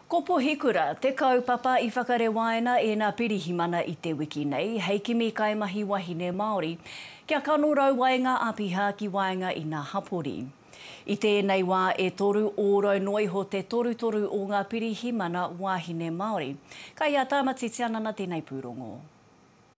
Ko Pohikura te kaupapa i whakarewaina e na Pirihimana i te wiki nei hei kimi kaimahi wahine Maori kia kanorau ai nga apiha ki waenga i na hapori. I tenei wa e toru orau noa iho te torutoru o nga Pirihimana wahine Maori. Kai a Tamati Tianana tenei purongo.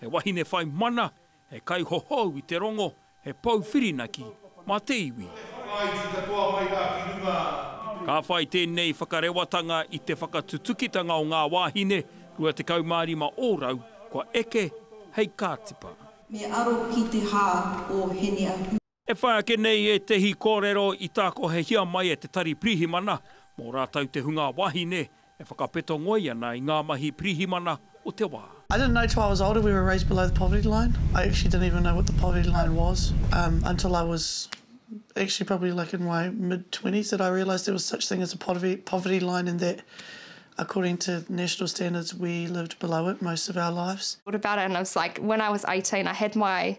He wahine whai mana, he kaihohou i te rongo, he pou whirinaki mā te iwi. He whakaaiti katoa mai rā ki runga i te. Ka whai tēnei whakarewatanga i te whakatutukitanga o ngā wāhine 25 ōrau kua eke hei kātipa. Me aro ki te hā o Hene-a-Hui. E whai ake nei ētehi kōrero i tākohehia mai e te Tari Pirihimana mō rātou te hunga wāhine e whakapeto ngoi ana i ngā mahi pirihimana o te wā. I didn't know till I was older we were raised below the poverty line. I actually didn't even know what the poverty line was until I was actually probably like in my mid twenties that I realised there was such thing as a poverty line and that according to national standards we lived below it most of our lives. What about it and I was like when I was eighteen I had my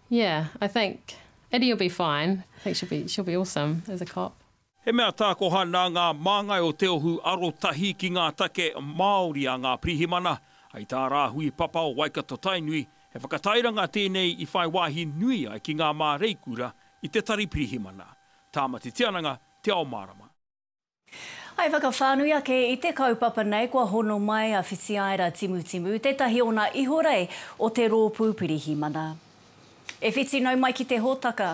Yeah I think Eddie will be fine I think she'll be she'll be awesome as a cop. He mea tākoha nā ngā māngai o Te Ohu arotahi ki ngā take Māori a ngā pirihimana. Hei tā Rāhui Papa o Waikato-Tainui, he whakatairanga tēnei i whai wāhi nui ai ki ngā māreikura i te tari pirihimana. Tāmati Tiananga, Te Ao Mārama. Hai whakawhānui ake i te kaupapa nei kua hono mai a Whitiaera Timutimu, tētahi ona ihorei o te rōpū Pirihimana. E whiti nau mai ki te hōtaka.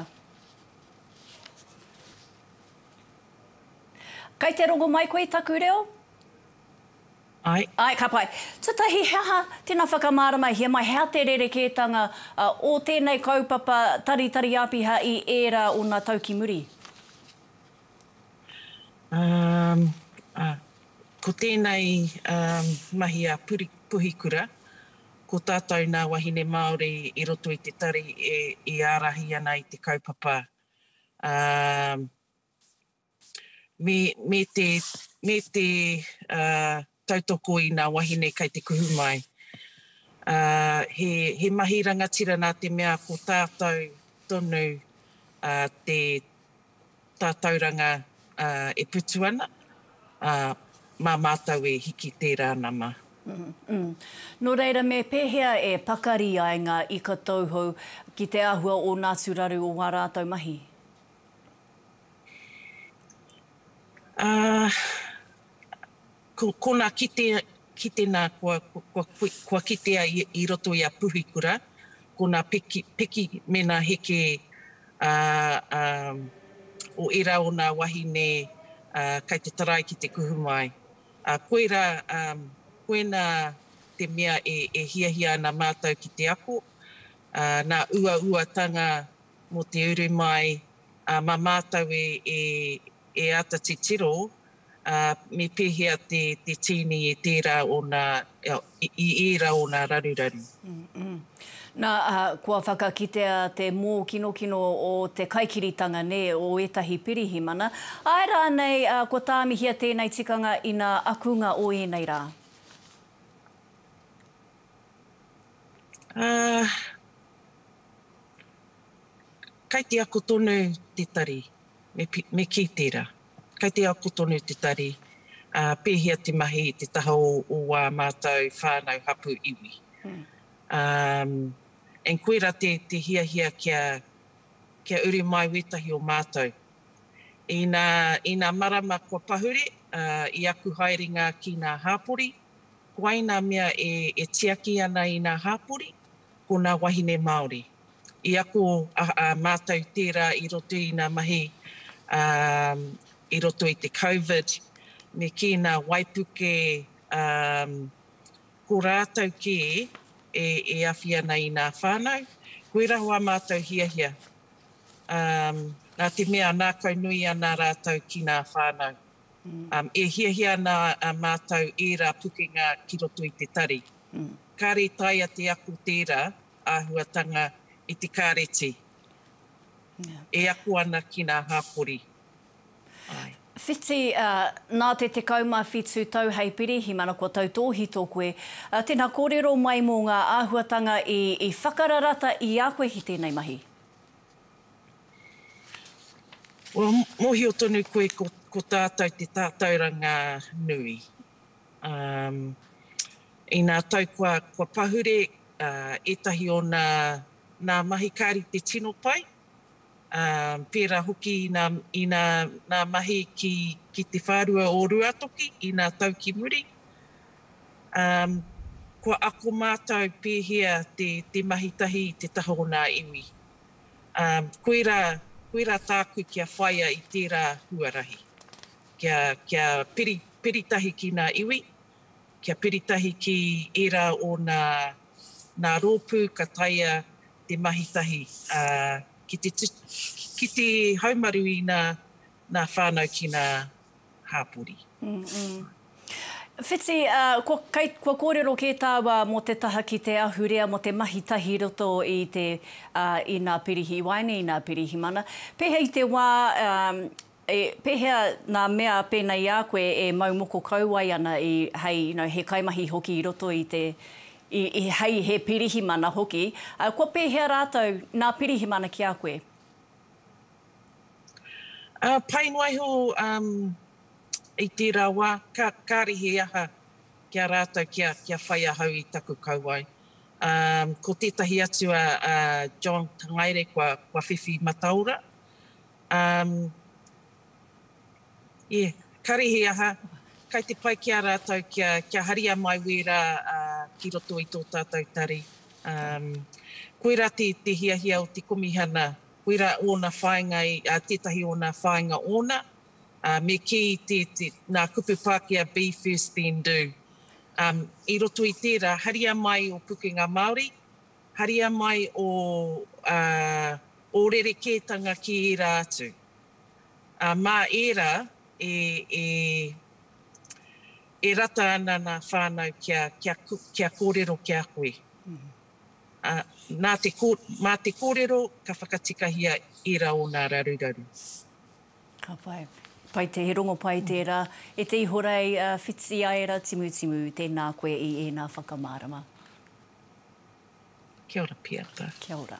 Kai te rongo mai koe i taku reo? Ai. Ai, ka pai. Tatahi, he aha, tēnā whakamāramahia mai, he aha te rerekētanga o tēnei kaupapa Taritari Āpiha i ērā ōna tau ki muri? Ko tēnei mahi a Puhikura, ko tātou nā wahine Māori i roto i te tari e ārahi ana i te kaupapa me te tautoko i nā wahine kai te kuhu mai. Ā, he, he mahi rangatira nā te mea ko tātou tonu ā, te tātauranga ā, e putu ana, ā, mā mātou e hiki tērā nama. Nō reira, me pēhea e pakari ai ngā ika tauhou ki te āhua o nā atu raru o wā rātou mahi? Ā. Ko konā kite, kite nā kua, kua, kua kitea i, i roto i a Puhikura, ko nā peki, peki me nā heke a, a, o ērā o nā wahine a, kai te tarai ki te kuhu mai. A, koirā, a, koinā te mea e, e hiahia ana mātou ki te ako, a, nā uauatanga mō te uru mai, a, mā mātou e, e, e āta titiro ā, me pēhea te, te tīni i tērā ōna, i ērā ōna raruraru. Nā, ā, kua whakakitea te mōkinokino o te kaikiritanga, nē, o ētahi pirihimana. Āe rānei, ā, kua tāmihia tēnei tikanga inā akunga o ēnei rā? Ā, kai te ako tonu te tari, me, me kī tērā. Kei te ako tonu te tari, ā, pēhea te mahi i te taha o ā mātou whānau, hapū, iwi. Umm. And koirā te hiahia kia, kia uru mai wētahi o mātou. Inā, inā marama kua pahure, ā, i aku haerenga ki nā hāpori, ko wai nā mea e, e tiaki ana i nā hāpori? Ko nā wahine Māori. I ako a mātou tērā i roto i ngā mahi i roto i te Covid me kī ngā waipuke ko rātou kē e awhi ana i ngā whānau. Koirā hoa mātou hiahia, nā te mea nākau nui ana rātou ki ngā whānau. E hiahia ana mātou ērā pukenga ki roto i te tari. Kāre taea te ako tērā āhuatanga i te kāreti e ako ana ki ngā hāpori. Āe. Whiti, Nā te 17 tau hei pirihimana kua tautōhito koe. Tēnā, kōrero mai mō ngā āhuatanga i whakararata i a koe ki tēnei mahi. Well, mōhio tonu koe ko tātou te tātauranga nui. Um, inā tau kua, kua pahure uh, ētahi o nā, nā mahi ka rite tino pai, um, pērā hoki inā, inā nā mahi ki, ki te whārua o Ruatoki, inā tau ki muri. Um, kua ako mātou pēhea te, te mahi tahi i te taha o nā iwi. Um, koirā, koirā tāku kia whaia i tērā huarahi. Kia, kia piri, piri tahi ki nā iwi, kia piri tahi ki ērā o nā, nā rōpū ka taea te mahi tahi, ā, ki te tu, ki te haumaru i nā, nā whānau ki nā hāpori. Whiti, ā, kua, kei, kua kōrero kē tāua mō te taha ki te ahurea mō te mahi tahi i roto i te, ā, i nā pirihi, i waenga i nā pirihimana. Pēhea i te wā, ā, E, pehea nga mea pena i a koe e mau moko kauae ana i, hei, you know, he kaimahi hoki i roto i te, i, i, hei he pirihimana hoki, a, kua pehea ratou, na pirihimana ki a koe? A, pai noa iho, um, i tera wa, ka, kare he aha ki a ratou kia, kia whai ahau i taku kauae. Um, ko tetahi atu a, a John Tangaere kua, kua whiwhi mataora. Um, yeah, karihi aha, kai te pai ki a ratou kia, kia haria mai wera uh, ki roto i to tatou tari. Um, koira te, te hiahia o te komihana, koira ona whainga, i, uh, tetahi ona whainga ona, uh, me ki te, te, na kupu Pakea be first then do. Um, I roto i tera, haria mai o pukenga Maori, Haria mai ō, ā, ō rerekētanga ki ērā atu. Ā, mā ērā e, e, e rata ana nā whānau kia, kia, kia kōrero ki a koe. Ā, nā te, mā te kōrero ka whakatikahia ērā o nā raruraru. Ka pai. Pai te, he rongo pai tērā. E te Ihorei, Whitiaera Timutimu, tēnā koe i ēnā whakamārama. Kia ora Piata. Kia ora.